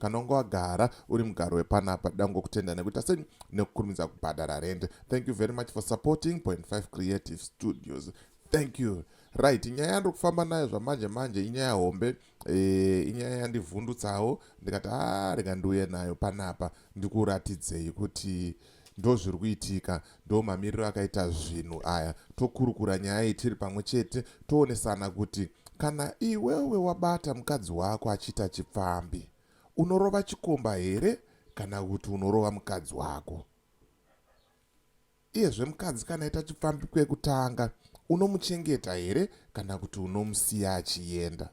kana unge wagara uri mugaro wepanapa dango kutenda nekuita sei nekukurumidza kubhadhara rent thank you very much for supporting point 5 creative studios thank you right nyaya yandiri kufamba nayo zvamanje manje inyaya hombe e, inyaya yandivhundutsawo ndikati a ah, rega ndiuye nayo panapa ndikuratidzei kuti e, ndozviri kuitika ndo mamiriro akaita zvinhu aya tokurukura nyaya iyi tiri pamwe chete toonesana kuti kana iwewe wabata mukadzi wako achiita chipfambi unorova chikomba here kana kuti unorova mukadzi wako iyezve mukadzi kana aita chipfambi kwekutanga unomuchengeta here kana kuti unomusiya achienda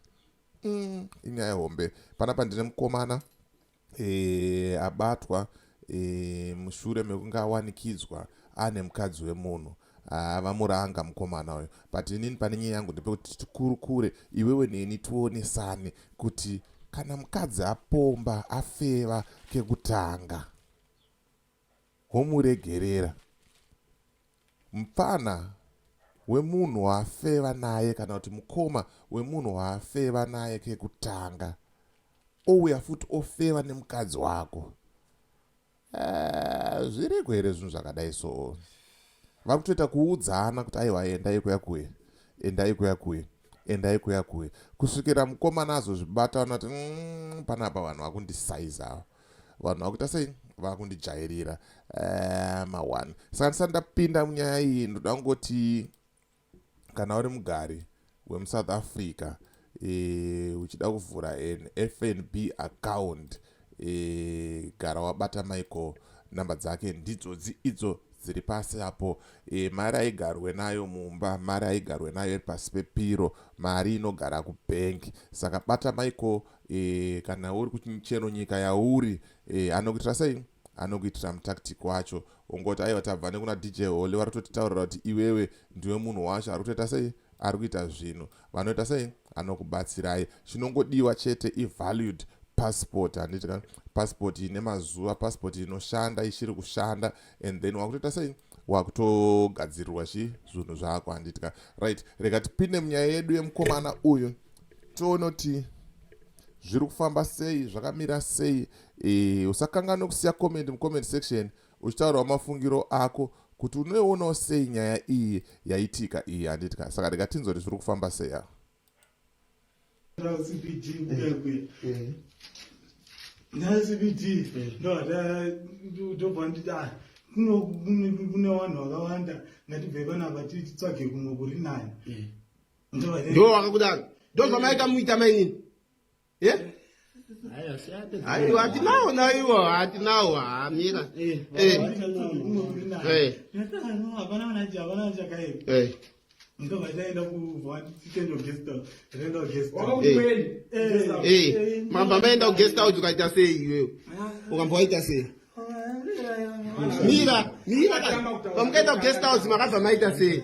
mm, inyaya hombe panapa ndine mukomana e, abatwa e, mushure mekunge awanikidzwa ane mukadzi wemunhu ah, vamuranga mukomana uyo but inini pane nyaya yangu ndepekuti tikurukure iwewe neni tionesane kuti kana mukadzi apomba afeva kekutanga Homuregerera. Mupfana wemunhu waafeva naye kana kuti mukoma wemunhu waafeva naye kekutanga ouya futi ofeva nemukadzi wako eh, zviriko here zvinhu zvakadai so vari kutoita kuudzana kuti aiwa endai kuya kuye endai kuya kuye endai kuya kuye kusvikira mukomana azozvibata anoati mm, panapa vanhu vakundisaiza ava vanhu vakuita sei vakundijairira eh, mawani saka ndisati ndapinda munyaya iyi ndoda kungoti kana uri mugari wemusouth africa e, uchida kuvhura an fnb account e, gara wabata michael namba dzake ndidzodzi idzo dziri pasi apo e, mari aigarwe nayo mumba mari aigarwe nayo iri pasi pepiro mari inogara kubhengi saka bata michael e, kana uri kuchero nyika yauri e, anokuitira sei anokuitira mutactic wacho ungoti aiwa tabva nekuna dj holy vari kutotitaurira kuti iwewe ndiwe munhu wacho ari kutoita sei ari kuita zvinhu vanoita sei anokubatsirai chinongodiwa chete ivalued passport handiti ka passport ine mazuva passport inoshanda ichiri kushanda and then wakutoita sei wakutogadzirirwa chi zvinhu zvako handitika right rega tipinde munyaya yedu yemukomana uyu tionoti zviri kufamba sei zvakamira sei e, usakanganwe kusiya comment mucomment section uchitaurawo mafungiro ako kuti unoionawo sei nyaya iyi yaitika iyi handitika saka rega tinzori zviri kufamba sei aa cbd kunyangwe nacbd ndobva nditi a kune vanhu vakawanda ngatibve panapa titsvage kumwe kuri nani ndo vakakudaro ndozvamaita muita mainini yeah? aiwa hatinawo naiwo hatinawo hamira mamba maenda kuguest house ukaita sei iwewe ukamba waita sei mira mira pamukaenda kuguest house makabva maita sei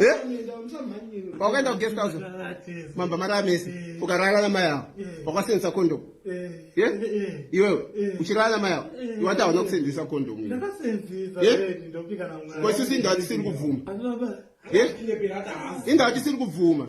Eh? wakaenda kuguest house mamba mari amese ukarara namai avo wakaseenzesa kondomu iwewe uchirara namai avo iwati hauna kuseenzesa kondomu koisisi indawa tisiri kubvuma indawa tisiri kubvuma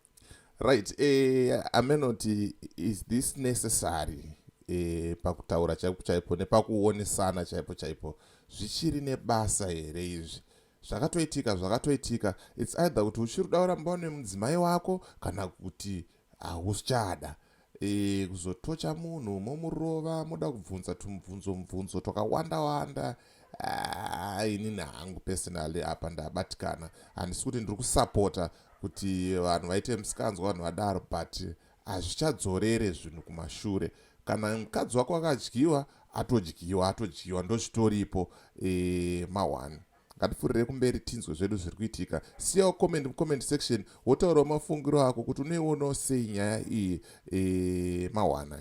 right eh, amenoti is this necessary eh, pakutaura chaipo chaipo nepakuonesana chaipo chaipo zvichiri nebasa here izvi zvakatoitika zvakatoitika its either kuti uchiri udaura mumba nemudzimai wako kana kuti hauchada Eeh kuzotocha munhu momurova moda kubvunza tumubvunzo mubvunzo twakawanda wanda aah inini hangu personally apa ndabatikana handisi kuti ndiri kusapota kuti vanhu vaite musikanzwa vanhu vadaro but hazvichadzorere zvinhu kumashure kana mukadzi wako akadyiwa atodyiwa atodyiwa ndozvitoripo eeh ma one ngatipfurirei kumberi tinzwe zvedu zviri kuitika siyawo comment mucomment section wotaurawo mafungiro ako kuti unoionawo sei nyaya iyi e, mahwana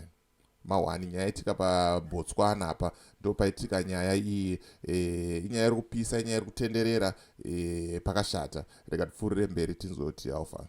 mahwani nyaya itika pabotswana apa ndo paitika nyaya iyi e, inyaya iri kupisa inyaya iri kutenderera e, pakashata rega tipfuurire mberi tinzwe kuti alfa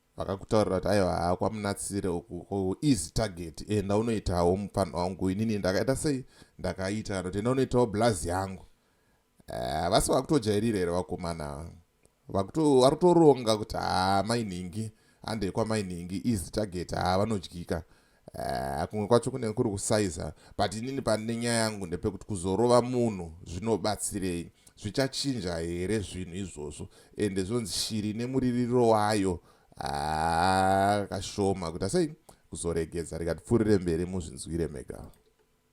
vakakutaurira kuti aiwa haa kwamunatsire uku ko easy target enda unoitawo mupfanha wangu inini ndakaita sei ndakaita kana kuti enda unoitawo blazi yangu eh, vasi uh, vakutojairira here vakomana vari kutoronga kuti haa ah, mainhingi handei kwamainhingi easy target haa ah, vanodyika Uh, kumwe kwacho kunenge kuri kusaiza but inini pane nyaya yangu ndepekuti kuzorova munhu zvinobatsirei zvichachinja here zvinhu izvozvo ende zvonzi shiri nemuririro wayo haa ah, kashoma kuti asei kuzoregedza rikatipfuurire mberi muzvinzwire mega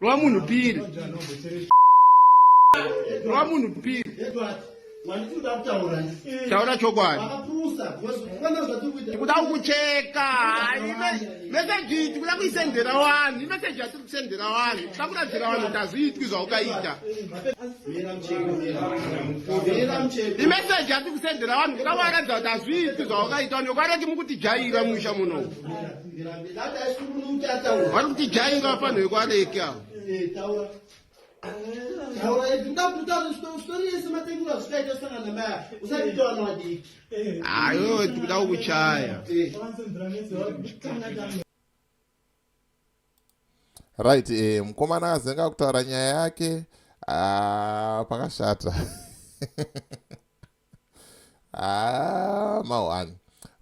Rova munhu piri. Rova munhu piri. Taura chokwadi. Tikuda kukucheka. Meseji tikuda kuisendera wani. Meseji yatiri kusendera wani. Tikuda kuradzira wani kuti hazviitwi zvaukaita. Imeseji yatiri kusendera wani. Tikuda kuvaratidza kuti hazviitwi zvaukaita. Wani yokaroti mukutijaira musha muno. vari kuti jainga panhu vekwareki avo ayo tikuda kukuchaya right eh, mukomana azenga kutaura nyaya yake ah, pakashata ah, mahwani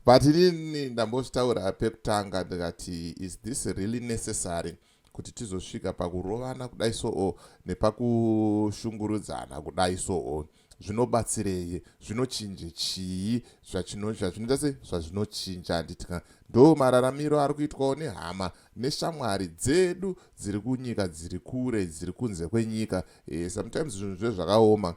but inini ndambozvitaura pekutanga ndikati is this really necessary kuti tizosvika pakurovana kudai soo nepakushungurudzana kudai soo zvinobatsirei zvinochinje chii zvazvinoita se zvazvinochinja handitika ndo mararamiro ari kuitwawo nehama neshamwari dzedu dziri kunyika dziri kure dziri kunze kwenyika e, sometimes zvinhu zvezvakaoma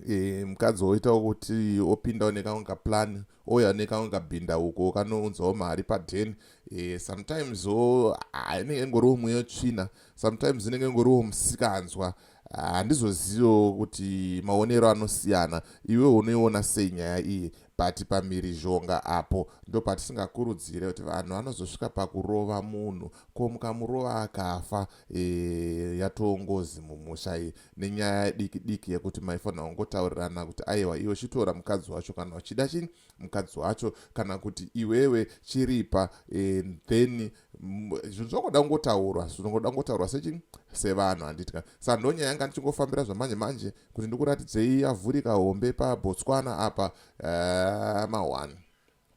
e, mukadzi woita kuti opindawo nekamwe kaplan ouya nekamwe kabhinda uko kanounzawo mari paden e, sometimes o inenge ingoriwo mweya yotsvina sometimes inenge ingoriwo musikanzwa handizoziviwo ah, kuti maonero anosiyana iwe unoiona sei nyaya iyi but pamhirizhonga apo ndopatisingakurudzire kuti vanhu vanozosvika pakurova munhu ko mukamurova akafa e, yatoo ngozi mumusha iyi nenyaya diki diki yekuti maifanira kungotaurirana kuti aiwa iwe chitora mukadzi wacho kana uchida chini mukadzi wacho kana kuti iwewe chiripa e, then zvinhu zvakuda kungotaurwa zvinongoda kungotaurwa sechini sevanhu handiti ka sa ndonyaya yanga ndichingofambira zvamanje manje kuti ndikuratidzei yavhurika hombe pabotswana apa uh, eh, mahwani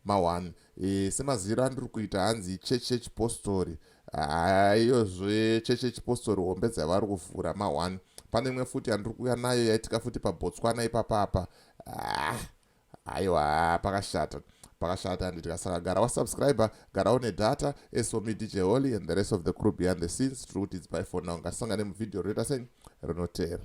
Ma one, e, semaziviro andiri kuita hanzi chechi yechipostori haiyozve chechi yechipostori hombe dzavari kuvhura ma one pane imwe futi yandiri kuuya nayo yaitika futi pabotswana ipapapa ah, aiwa pakashata pakashata handitya saka gara wasubscriber gara une data eso me dj holy and the rest of the crew behind the scenes tiri kuti it's by for now ngatisangane muvhidhiyo rinoita sei rinoteera